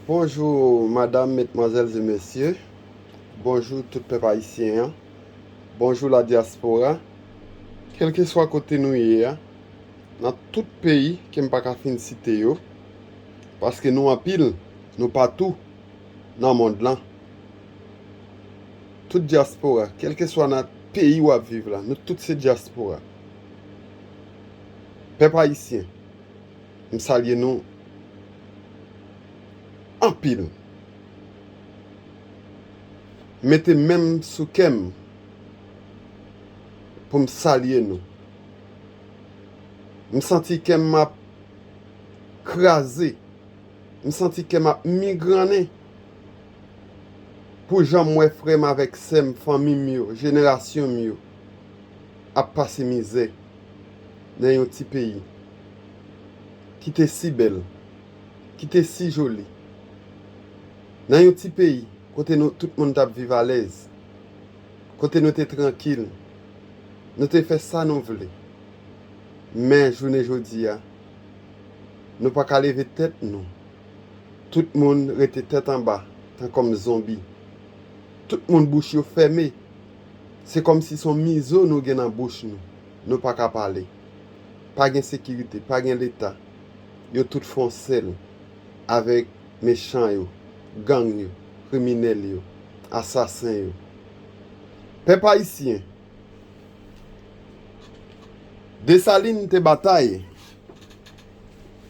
Bonjou madam metmwazèl e mesye bonjou tout pèp ayisyen an bonjou la diaspora kelkeswa kote nou ye a nan tout peyi ke m pa ka fin site yo paske nou anpil nou patou nan mond lan tout diaspora kelkeswa nan peyi wap viv la nou tout se diaspora pèp ayisyen M salye nou anpil. Mete men m sou kè m pou m salye nou. M santi kè m ap kraze. M santi kè m ap migrannen pou jan m wè frè m avèk sè m, fanmi m yo, jenerasyon m yo ap pase mizè nan yon ti peyi. ki te si bèl, ki te si joli, nan yon ti peyi kote nou tout moun t ap viv alèz, kote nou te trankil, nou te fè sa nou vle. Men, jounen jodi a, nou pa ka leve tèt nou. Tout moun rete tèt anba, tankòm zonbi. Tout moun bouch yo fèmen. Se kòmsi s on mizo nou gen nan bouch nou, nou pa ka pale. Pa gen sekirite, pa gen leta, yo tout fon sèl avèk mechan yo, gang yo, kriminèl yo, asasen yo. Pèp ayisyen, Desalin te batay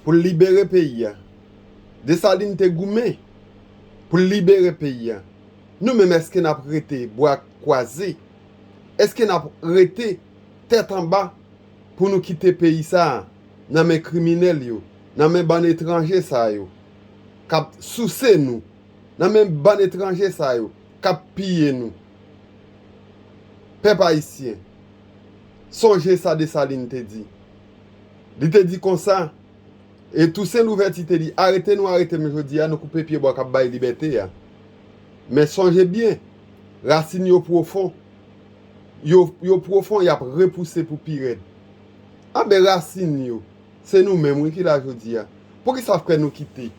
pou l libere peyi a, Desalin te goumen pou l libere peyi a, nou menm èske n ap rete bra kwaze, èske n ap rete tèt anba? pou nou kite peyi sa nan men kriminèl yo, nan men bann etranje sa yo kap souse nou, nan men bann etranje sa yo kap piye nou. Pèp ayisyen, sonje sa Desalin te di. Li te di konsa, e Tousen Louvèti te di, arete nou arete m jodi a, nou koupe pye bwa kap bay libète a. Men sonje byen, rasin yo pwofon. yo yo pwofon yap repouse pou pirèd anben rasin yo se nou menm wi kila jodia poukisa frè nou kite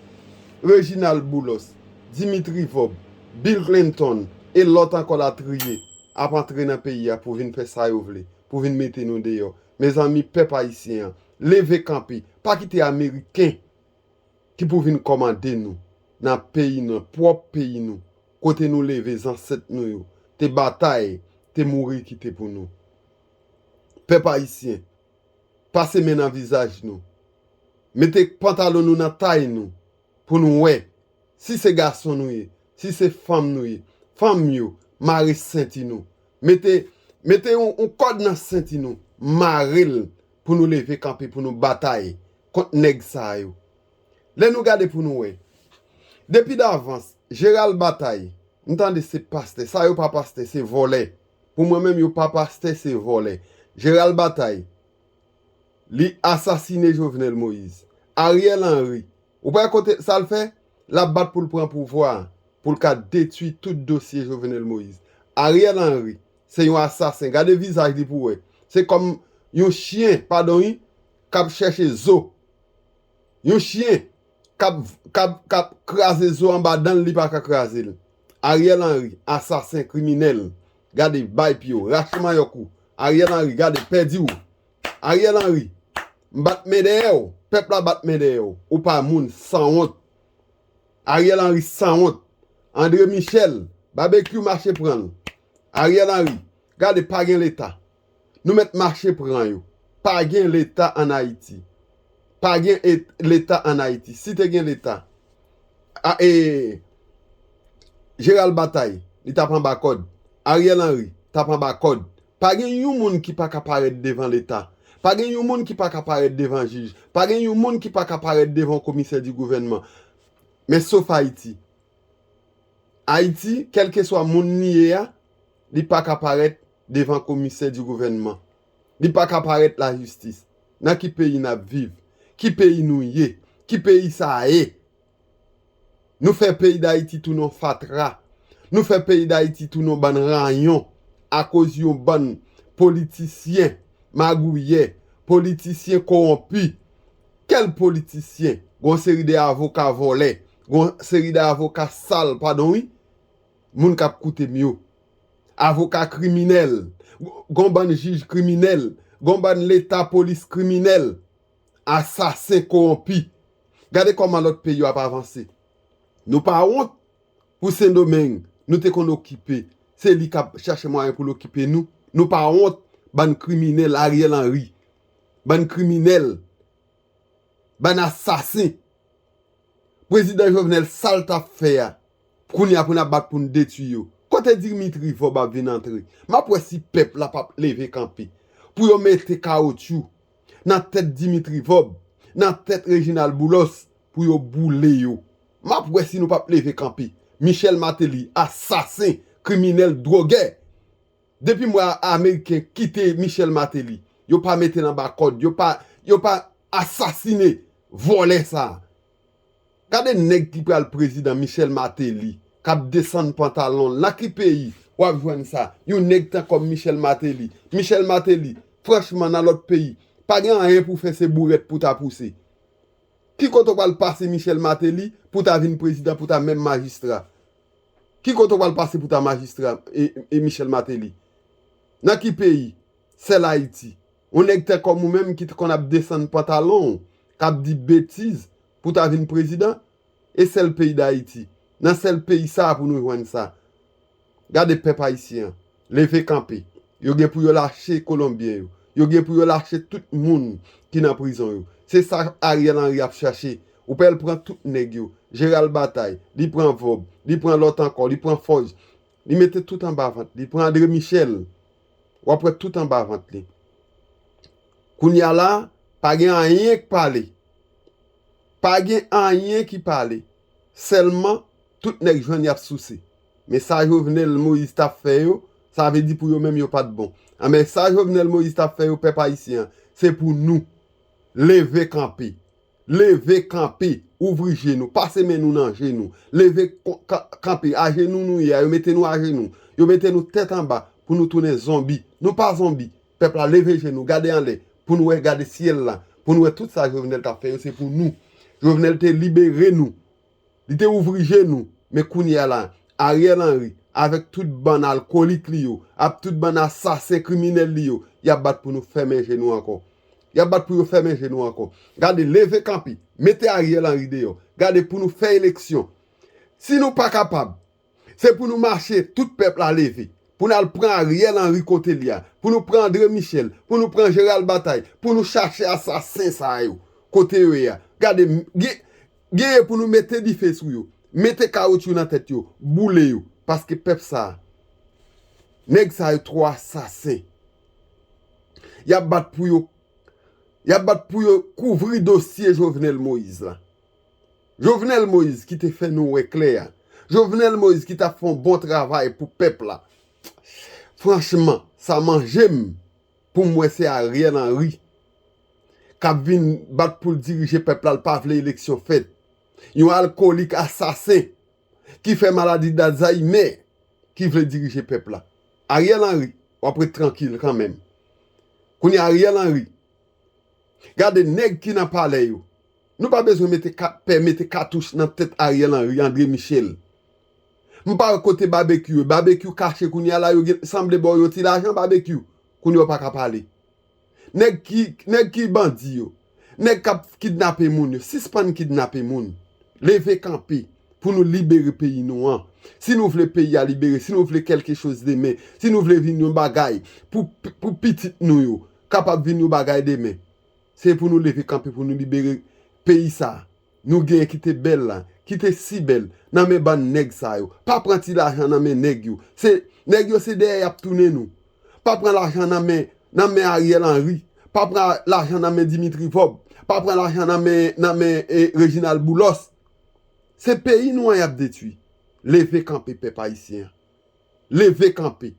Reginald boulos Dimitri vob Bill clinton e lòt ankò latriye ap antre nan peyi a pou vin fè sa yo vle pou vin mete nou deyò mezanmi pèp ayisyen an leve kanpe pa kite ameriken ki pou vin kòmande nou nan peyi nan pwòp peyi nou. Kote nou leve zansèt nou yo te batay te mouri kite pou nou. Pèp ayisyen, pase men nan vizaj nou, mete pantalon nou nan tay nou pou nou wè si se gason nou ye, si se fanm nou ye. Fanm yo, mare senti nou. Mete, mete yon kòd nan senti nou, mare l pou nou leve kanpe pou nou batay. kont nèg sa yo. Lè nou gade pou nou wè. Depi davans, Gérald Bataille, m tande se pastè, sa yo pa pastè, se vòlè. Pou mwen menm yo pa pastè, se vòlè. Gérald Bataille, li asasine Jovenel Moïse. Ariel Henry, ou pa wè kote, sa l fè? L ap bat pou l pran pouvwa a, pou l ka detwi tout dosye Jovenel Moïse. Ariel Henry, se yon asasen. Gade vizaj li pou wè. Se kòm yon chyen, padon wi, kap chèche zo yon chyen kap kap kap kraze zo anba danl li paka krazel Ariel Henry asasen kriminèl gade bay pyew rache manyòk ou Ariel Henry gade pèdi ou Ariel Henry m bat men dèyèw pèp la bat men dèyèw ou pa moun sanwont Ariel Henry sanwont Andre Michel babekyou mache pranl Ariel Henry gade pagen leta Nou mèt mache pran yo. Pa gen leta an Ayiti. Pa gen leta an Ayiti. Si te gen leta. A e Jeral Batay li tap anba kòd. Ariel Henry tap anba kòd. Pa gen yon moun ki pa ka parèt devan leta. Pa gen yon moun ki pa ka parèt devan jij. Pa gen yon moun ki pa ka parèt devan komisè di gouvènman. Men sof Ayiti. Ayiti kèlkeswa moun li ye a li pa ka parèt devan komisè di gouvènman li pa ka parèt la jistis nan ki peyi nap viv ki peyi nou ye ki peyi sa ye nou fè peyi dayiti tounen yon fatra nou fè peyi dayiti tounen yon bann ranyon akoz yon bann politisyen magouyè politisyen kowonpi kèl politisyen gon seri de avoka vòlè gon seri de avoka sal padon wi Moun kap koutem yo. Avoka kriminel. Gon bann jij kriminel. Gon bann leta polis kriminel. Asasen kowonpi. Gade koman lot peyi yo ap avanse. Nou pa wont pou sendomeng nou te konn okipe. Se li kap chache mwayen poul okipe nou. Nou pa wont bann kriminel ariel henry. Bann kriminel. Bann asasen. Prezidan jovenel sal tap fè a. Kounya pou nap bat poun detwi yo. Kote Dimitri vorb ap vin antre. Map wè si pèp la pap leve kanpe. Pou yo mete kaotchou. Nan tèt Dimitri vorb. Nan tèt Reginald boulos. Pou yo boule yo. Map wè si nou pap leve kanpe. Michel Martelly asasen kriminel drogè. Depim wè ameriken kite Michel Martelly. Yo pa metel anba kòd. Yo pa asasine vòlè sa. Gade nèg ki pral prezidan Michel Martelly kap desann pantalonl nan ki peyi wap jwenn sa yon nèg tan kòm Michel Martelly Michel Martelly franchman nan lòt peyi pa gen anyen pou fè se bourèt pou ta pouse ki kote ou pral pase Michel Martelly pou ta vin prezidan pou ta menm majistra ki kote ou pral pase pou ta majistra Michel Martelly nan ki peyi sèl ayiti. Yon nèg tè kòm ou menm ki t konn ap desann pantalon w kap di betiz pou ta vin prezidan? E sèl peyi dayiti, nan sèl peyi sa pou nou jwenn sa. Gade pèp ayisyen an, leve kanpe. Yo gen pou yo lache kolonbyen yo. Yo gen pou yo lache tout moun ki nan prizon yo. Se sa Ariel Henry ap chache. Ou pè l pran tout nèg yo. Jeral batay, li pran vob, li pran lòt ankò, li pran fòj. Li mete tout anba vant li. Pran Andre Michel, wap wè tout anba vant li. Kounya la, pa gen anyen k pale. Pa gen anyen ki pale. Sèlman, tout nèg jwenn yap souse. Men sa Jovenel Moïse tap fè yo, sa vle di pou yo menm yo pat bon. Anben, sa Jovenel Moïse tap fè yo pèp ayisyen an, se pou nou leve kanpe. Leve kanpe, ouvri je nou, pase men nou nan je nou, leve kanpe, ajenou nou ye a, yo mete nou ajenou, yo mete nou tèt anba pou nou tounen zonbi, nou pa zonbi, pèp la leve je nou, gade anlè pou nou wè, gade syèl la pou nou wè tout sa Jovenel tap fè yo se pou nou, Jovenel te libere nou Li te ouvri je nou, men kounye a la, Ariel Henry, avèk tout bann alkolik li yo, avk tout bann asasen kriminèl li yo, y ap bat pou nou fèmen je nou ankò. Y ap bat pou yo fèmen je nou ankò. Gade, leve kanpe, mete Ariel Henry deyò. Gade, pou nou fè eleksyon. Si nou pa kapab, Se pou nou mache tout pèp la leve pou nal pran ariel henry kote li a pou nou pran andre michel pou nou pran gerald batay pou nou chache asasen sa yo kote yo ye a gade gen genyen pou nou mete dife sou yo mete kawotyou nan tèt yo boule yo paske pèp sa nèg sa yo trò asasen yap bat pou yo yap bat pou yo kouvri dosye jovenel moïse la. Jovenel Moïse ki te fè nou wè klè a. Jovenel Moïse ki tap fè yon bon travay pou pèp la. Franchman, sa manje m pou m wè se Ariel Henry kap vin bat pou l dirije pèp la, l pa vle eleksyon fèt. Yon alkolik asasen ki fè maladi d'Alzheimer ki vle dirije pèp la. Ariel Henry, wap ret trankil kanmenm. Kounye a Ariel Henry, gade nèg ki nan palè yo. Nou pa bezwen mete kat pè mete katouch nan tèt Ariel Henry Andre Michel m pa wè kote babekyou ye babekyou kache kounya la yo gen sanble baw yon ti lajan babekyou kounya w pa ka pale nèg ki nèg ki bandi yo nèg kap kidnape moun yo sispann kidnape moun leve kanpe pou nou libere peyi nou an si nou vle peyi a libere si nou vle kèlke choz demen si nou vle vin yon bagay pou pou pitit nou yo kapab vin yon bagay demen. Se pou nou leve kanpe pou nou libere peyi sa nou genyen ki te bèl la, ki te si bèl nan men bann nèg sa yo. Pa pran ti lajan nan men nèg yo. Se nèg yo se dèyè y ap tounen nou. Pa pran lajan nan men nan men Ariel Henry. Pa pran lajan nan men Dimitri Vob. Pa pran lajan nan men nan men Reginald Boulos. Se peyi nou an y ap detui. Leve kanpe pèp ayisyen an. Leve kanpe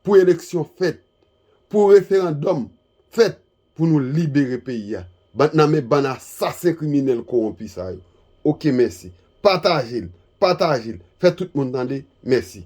pou eleksyon fèt, pou referandòm fèt. Pou nou libere peyi a. Bat nan men bann asasen kriminèl kowonpi sa yo. Ok mèsi. Pataje l. Pataje l. Fè tout moun tande. Mèsi.